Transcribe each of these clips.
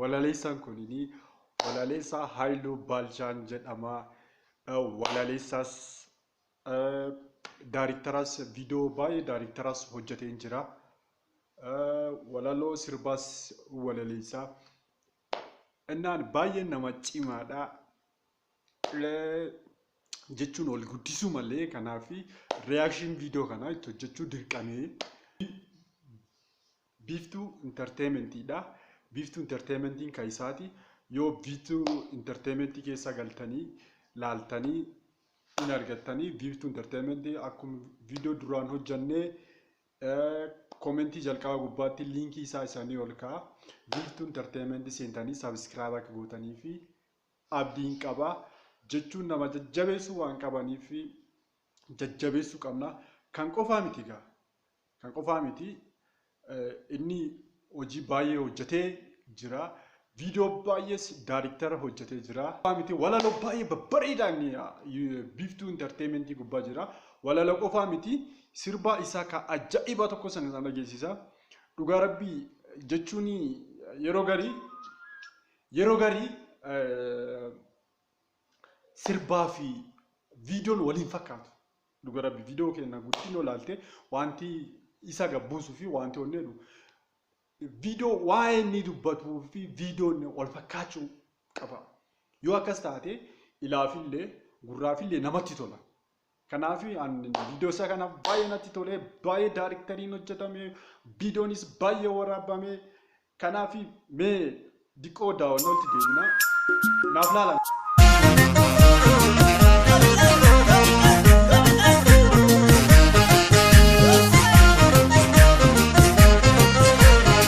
Walaleessaan kunini walaleessaa Haayiluu Baalchaan jedhama. Walaleessaas daariktaraas viidiyoo baay'ee daariktaraas hojjeteen jira. Walaloo sirbaas walaleessaa. Innaan baay'ee nama cimaadha. jechuun ol guddisuu malee kanaaf reaction video kana itti hojjechuu dirqamee biiftuu intarteementiidha. Biiftuu intarteementiin kan isaati yoo biiftuu intarteementii keessa galtanii laaltanii hin argattanii biiftuu intarteementii akkuma viidiyoo duraan hojjannee koomentii jalqaba gubbaatti liinkii isaa isanii ol ka'a. Biiftuu intarteementii seentanii sabiskiraayib akka gootanii fi abdiin qaba jechuun nama jajjabeessuu waan qabaniif jajjabeessuu qabna. Kan qofaa miti gaa. Kan qofaa miti. Inni hojii baay'ee hojjetee jira. Viidiyoo baay'ees daariktara hojjetee jira. Qofaa miti walaloo baay'ee babbareedaa inni biiftuu intarteementii gubbaa jira. Walaloo qofaa miti sirbaa isaa kan ajaa'ibaa tokko sana isaan dhageessisa. Dhugaa rabbii jechuun yeroo garii Yeroo garii sirbaa fi viidiyoon waliin fakkaatu. Dhuga rabbi viidiyoo keenya guddin olaalte wanti isa gabbuusu fi wanti onni jedhu viidiyoo waa'ee inni dubbatuu fi viidiyoon wal fakkaachuu qaba. Yoo akkas taate ilaafillee gurraafillee namatti tola. Kanaaf viidiyoo isaa kana baay'ee natti tolee baay'ee daariktariin hojjetame viidiyoonis baay'ee waraabame kanaaf mee diqoo daawwannoolti deebina naaf laala.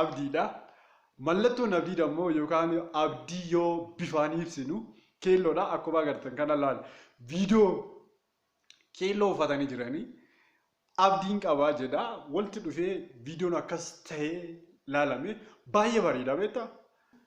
abdiidha. Mallattoon abdiidha immoo yookaan abdii yoo bifaan ibsinu keelloodha. Akkuma agartan kana laal viidiyoo keelloo uffatanii jiranii abdiin qabaa jedha walitti dhufee viidiyoon akkas ta'ee laalame baay'ee bareeda beektaa.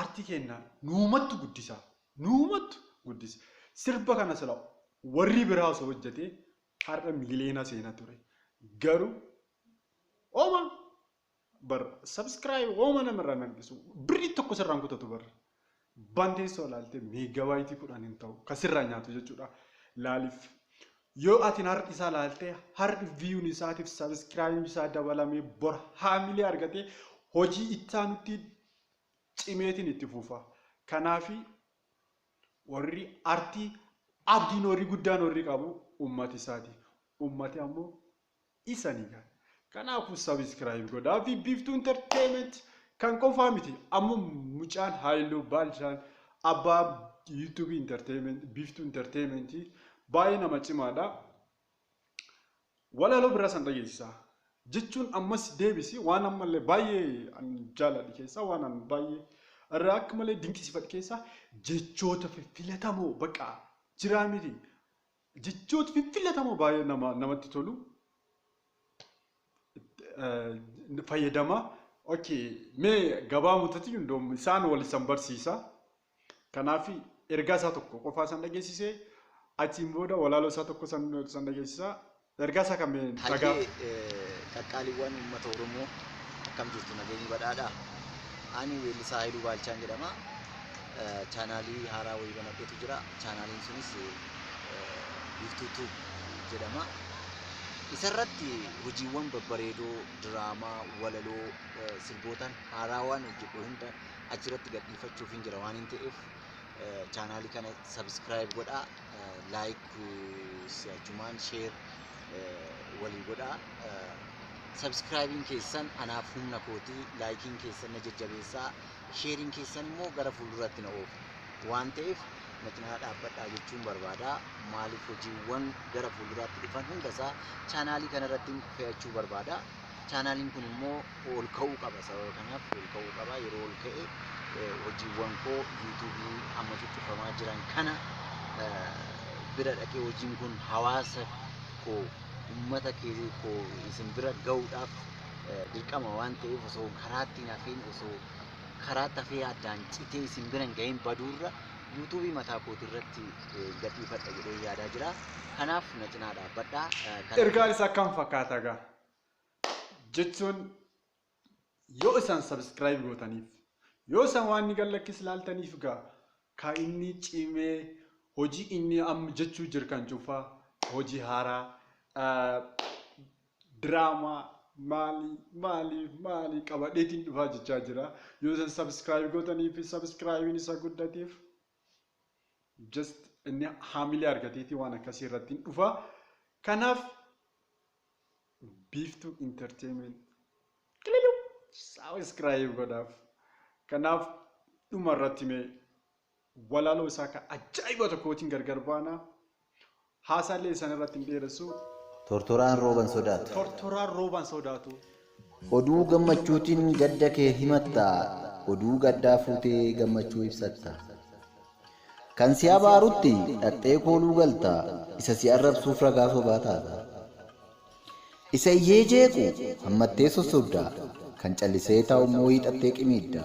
Artii keenna nuumattu guddisa nuumattu guddisa sirba kana sila warrii biraa osoo hojjatee har'a miiliyoona seena ture garuu hooma bar subscribe hooma nama irraa hin hanqisu birrii tokko sirraa hin kutatu bar banteessoo ilaalte meegaabaayitii kudhan hin ta'u kan sirraa nyaatu jechuudha laaliif Yoo atin har isaa laalte har viyun isaatif sabiskirayib isaa dabalame bor haamilee argate hojii ittaanutti cimeetin itti fufa kanaafi warri artii abdiin warri guddaan warri qabu ummati isaati ummati ammoo isani ga. Kanaafu subscribe godhaa fi Biiftuu Entertainment kan qofaa miti amma mucaan Haayiluu Baalchaan abbaa YouTube Entertainment Biiftuu Entertainment baay'ee nama cimaadha. Walaloo biraa san dhageessisaa. Jechuun ammas deebisi waan ammallee baay'ee an jaaladhe keessaa waan an baay'ee irraa akka malee dinqisiifadhe keessaa jechoota fiffilatamoo baqa jiraa miti Jechooti fiffillatamoo baay'ee nama namatti tolu. fayyadama. Okay, mee gabaabumatti hundoom isaan wal isan barsiisa. Kanaaf ergaa isaa tokko qofaa san dhageessise achiin booda walaaloo isaa tokko san san dhageessisa. Ergaa isaa kan mee dhagaa. Hayyee qaqqaaliiwwan uummata Oromoo akkam jirtu nageenyi badhaadhaa? Ani weellisaa Haayiluu Baalchaan jedhama. chaanaalii haaraa wayii banadhetu jira. Chaanaaliin sunis Biiftuu Tuub jedhama. Isarratti hojiiwwan babbareedoo, diraamaa, walaloo, sirbootaan haaraa waan hojjedhe hunda achirratti gadhiifachuuf hin jira waan hin ta'eef chaanaalii kana sabiskiraayib godhaa, laayik si'achumaan sheer walii godhaa. Sabiskiraayibiin keessan anaaf humna kootii, laayikiin keessan na jajjabeessaa. Sheeriin keessan immoo gara fuulduraatti na oofa. Waan ta'eef na cinaa dhaabbadhaa jechuun barbaada. Maaliif hojiiwwan gara fuulduraatti dhufan hundasaa chaanaalii kanarratti fe'achuu barbaada. Chaanaaliin kun immoo ol ka'uu qaba. Sababa kanaaf ol ka'uu qaba. Yeroo ol ka'e eh, hojiiwwan koo yuutuubii amma ciccifamaa jiran kana eh, bira dhaqee hojiin kun hawaasa koo uummata kee koo isin bira ga'uudhaaf dirqama waan ta'eef osoo karaatti hin hafiin osoo karaatti hafee addaan citee isin bira hin gahin baduurra yuutuubii mataa kootii irratti gadhiifadha jedhee yaadaa jira. Kanaaf na cinaa dhaabbadhaa. Ergaan isaa akkam fakkaata gaa? Jechuun yoo isaan sabiskiraayib gootaniif yoo isaan waan inni gallakkis ilaaltaniif gaa ka inni cimee hojii inni amma jechuu jirkan cufaa hojii haaraa Drama maali maali maali qabadheetiin dhufaa jechaa jira yoo isin subscribe gootanii fi subscribein isa guddateef just inni haamilee argateetii waan akkasii irratti hin dhufa kanaaf biiftuu entertainment qililu subscribe godhaaf kanaaf dhuma irratti mee Walaloo isaa ka ajaa'iba tokkootiin gargar baana. Haasaallee isan irratti hin dheeressu. Tortoraan rooba hin sodaatu. Tortoraan rooba hin sodaatu. Oduu gammachuutiin gadda kee himatta, oduu gaddaa fuutee gammachuu ibsatta. Kan si abaarutti dhaqxee kooluu galta, isa si arrabsuuf ragaa sobaa taata. Isa iyyee jeequ hammattee sossobda, kan callisee taa'ummoo hiixattee qimiidda.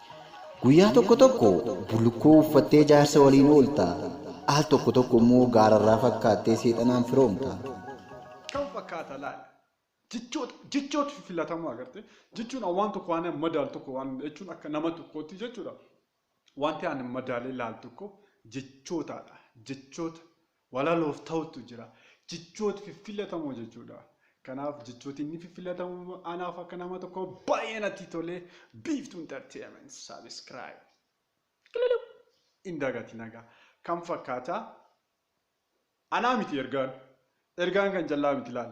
Guyyaa tokko tokko bullukkoo uffattee jaarsa waliin oolta, al tokko tokko immoo gaararraa fakkaattee seexanaan firoomta. Kam fakkaata laata? Jechoota, jechoota filatamoo agartee? Jechuun an waan tokko waan madaalu tokko waan jechuun akka nama tokkootti jechuudha. Wanti ani madaalee laalu tokko jechootaadha. Jechoota walaloof ta'utu jira. Jechoota fiffilatamoo jechuudha. Kanaaf jechooti inni fiffilatamu anaaf akka nama tokko baay'ee natti tolee Biiftuu Entertainment subscribe kililuu hin dagatin egaa kan fakkaata anaa miti ergaan ergaan kan callaa miti laal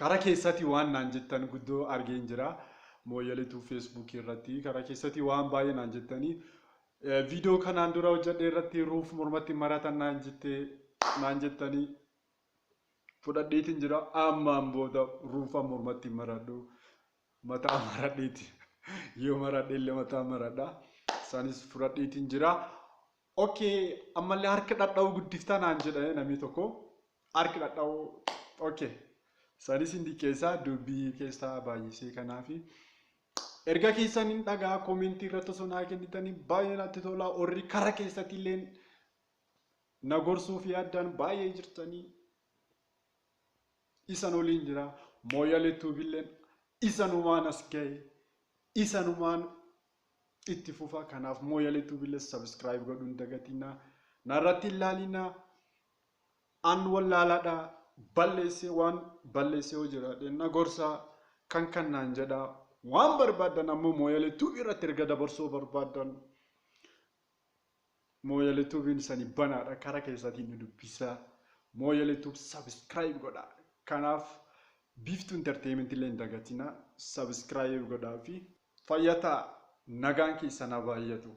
Kara kessati waan naan jettan guddo argeen jira mooyale tube facebook irratti kara kessati waan baay'ee naan jettani video kanaan dura hojjadhe irratti ruuf mormatti maratan naan jette naan jettani fudhadheetin jira ammaan booda ruufa mormatti maradhu mataa maradheeti yoo maradhe illee mataa maradha isaanis fudhadheetin jira Ok ammallee harka dhadha'uu guddiftaa naan jedhanii namni tokko harki dhadha'uu ok sanis hin diqqeessaa dubbii keessaa baay'isee kanaafi erga keessan hin dhagaa koomentii irratti osoo naa kennitanii baay'ee natti tolaa warri kara keessatti illee na gorsuu fi addaan baay'ee jirtanii isan oliin jira mooyalee tuubilleen isanumaan as ga'e isanumaan itti fufa kanaaf mooyalee tuubiles subscribe godhu hin dagatina narratti hin laalina an wallaalaadha balleessee waan balleessee hoo jiraadhe na gorsa kan kan naan jedha waan barbaadan ammoo mooyalee tuubii irratti erga dabarsoo barbaadan mooyalee tuubiin isani banaadha kara keessatiin nu dubbisa mooyalee tuub subscribe godha kanaaf biiftuu entertainment illee hin dagatina subscribe godhaa fi Fayya ta'a nagaan keessan haa baayyatu.